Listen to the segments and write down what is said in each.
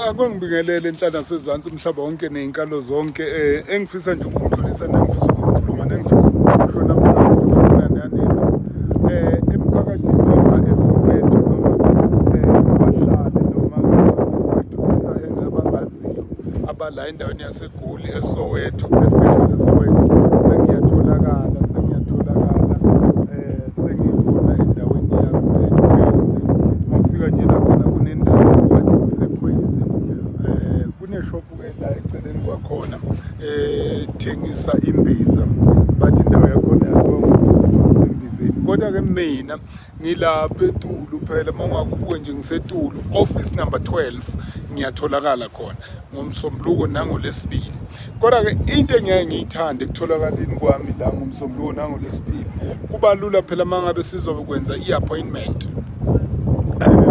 akungibingelele inhlana sezantsi umhlaba wonke ney'nkalo zonke um engifisa nje ukukudlulisa nengifisa ukukhuluma nengifisa ukuhlona mnananezwa um eh, emphakathini noma esoweto noma um abahlali noma abafuwethu isahele abangaziyo abala endaweni yase Goli eSoweto especially eSoweto sengiyatholakala sengiyatholakala eh sengikhona endaweni yaseKhwezi mafika nje lakhona kunendawo wathi kuseKhwezi eh kuneshop la eceleni kwakhona eh thengisa imbiza bathi indawo yakhona yaziwa ngokuthi sembizeni kodwa ke mina ngilapha etulu phela uma ungakubuke nje ngisetulu office number 12 ngiyatholakala khona ngomsombuluko nangolesibili kodwa-ke into engiyaye ngiyithande ekutholakaleni kwami la ngomsombuluko nangolesibili kuba lula phela uma ngabe sizokwenza i-appointment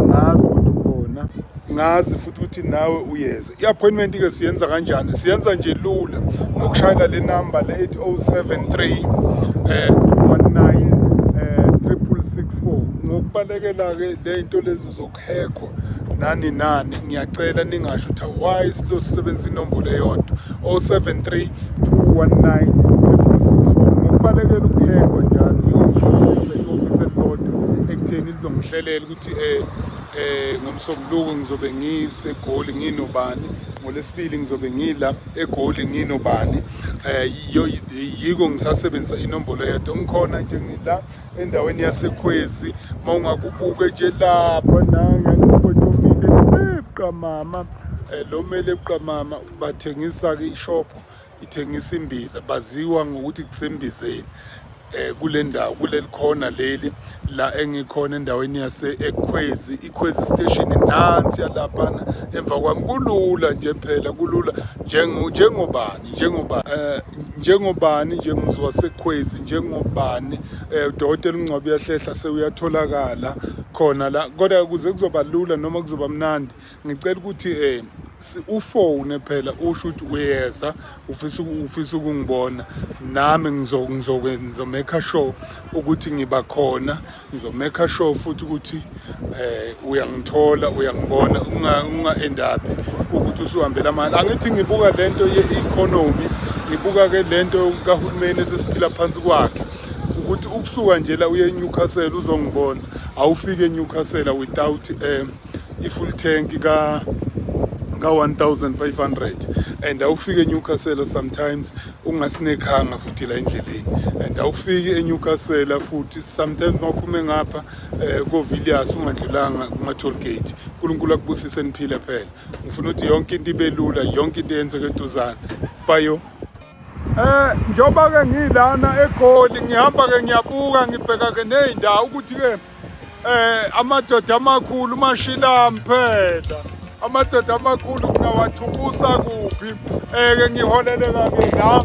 ngazi ukuthi ukhona ngazi futhi ukuthi nawe uyeza i-appointment ke siyenza kanjani siyenza nje lula ngokushayela le number le 8073 eh 219 eh 664 ngokubalekela ke le into lezi zokuhekho nani nani ngiyacela ningasho ukuthi why silo sisebenza inombolo eyodwa 073 219 ngokubalekela ukuhekho njalo yonke office elilodwa ekutheni lizongihlelela ukuthi eh Eh ngomsombuluko ngizobe ngiseGoli nginobani ngolesibili ngizobe ngila eGoli nginobani eh yiko ngisasebenzisa inombolo yedwa ngikhona nje ngila endaweni yaseKhwezi mawungakubuke nje lapha nanga ngifotomile ebuqamama eh, lo mele ebuqamama bathengisa ke ishophu ithengisa imbiza baziwa ngokuthi kusembizeni eh kule ndawo kuleli khona leli la engikhona endaweni yase ekhwezi ikhwezi station nansi yalaphana emva kwami kulula nje phela kulula njengo njengobani njengoba eh njengobani nje mzwa sekhwezi njengobani eh udokotela uNgcwabi uyahlehla sewuyatholakala khona la kodwa kuze kuzoba lula noma kuzoba mnandi ngicela ukuthi um ufone phela usho ukuthi uyeza ufisa ufisa ukungibona nami ngizomeka sure ukuthi ngiba khona ngizomeka sure futhi ukuthi eh uyangithola uyangibona unga unga endaphi ukuthi usuhambela mali angithi ngibuka lento ye-economy ngibuka ke lento kahulumeni esesiphila phansi kwakhe ukuthi ukusuka nje la uye eNewcastle uzongibona awufike eNewcastle without um i-full tank ka ka-1500 and awufike eNewcastle sometimes ungasinekhanga futhi la endleleni and awufiki eNewcastle futhi sometimes mawuphume ngapha eh koVilliers ungadlulanga kuma toll gate uNkulunkulu akubusise niphile phela ngifuna ukuthi yonke into ibe lula yonke into eyenzeke eduzana bayo Eh njoba ke ngilana eGoli ngihamba ke ngiyabuka ngibheka ke nezindawo ukuthi ke Eh amadoda amakhulu mashila mphela. Amadoda amakhulu ngawathukusa kuphi? Eh ke ngiholele kake la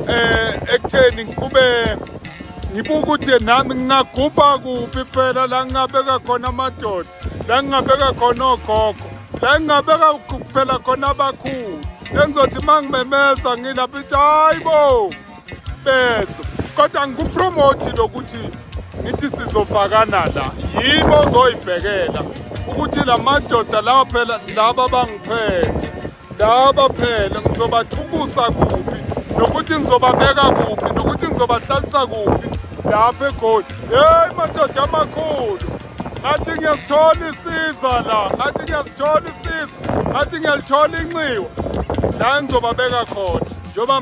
eh ekutheni ngikube ngibuka ukuthi nami ngingagubha kuphi phela la ngingabeka khona amadoda la ngingabeka khona ogogo la ngingabeka phela khona abakhulu engizothi uma ngimemeza ngilapha ithi hayi bo bezo kodwa ngikupromote lokuthi ngithi sizofakana la yimi ozoyibhekela ukuthi la madoda lawa phela laba bangiphethe laba phela ngizobathukusa kuphi nokuthi ngizobabeka kuphi nokuthi ngizobahlalisa kuphi lapha egoli yeyi madoda amakhulu ngathi ngiyasithola isiza la ngathi ngiyasithola isiza ngathi ngiyalithola inxiwa la ngizobabeka khona njengoba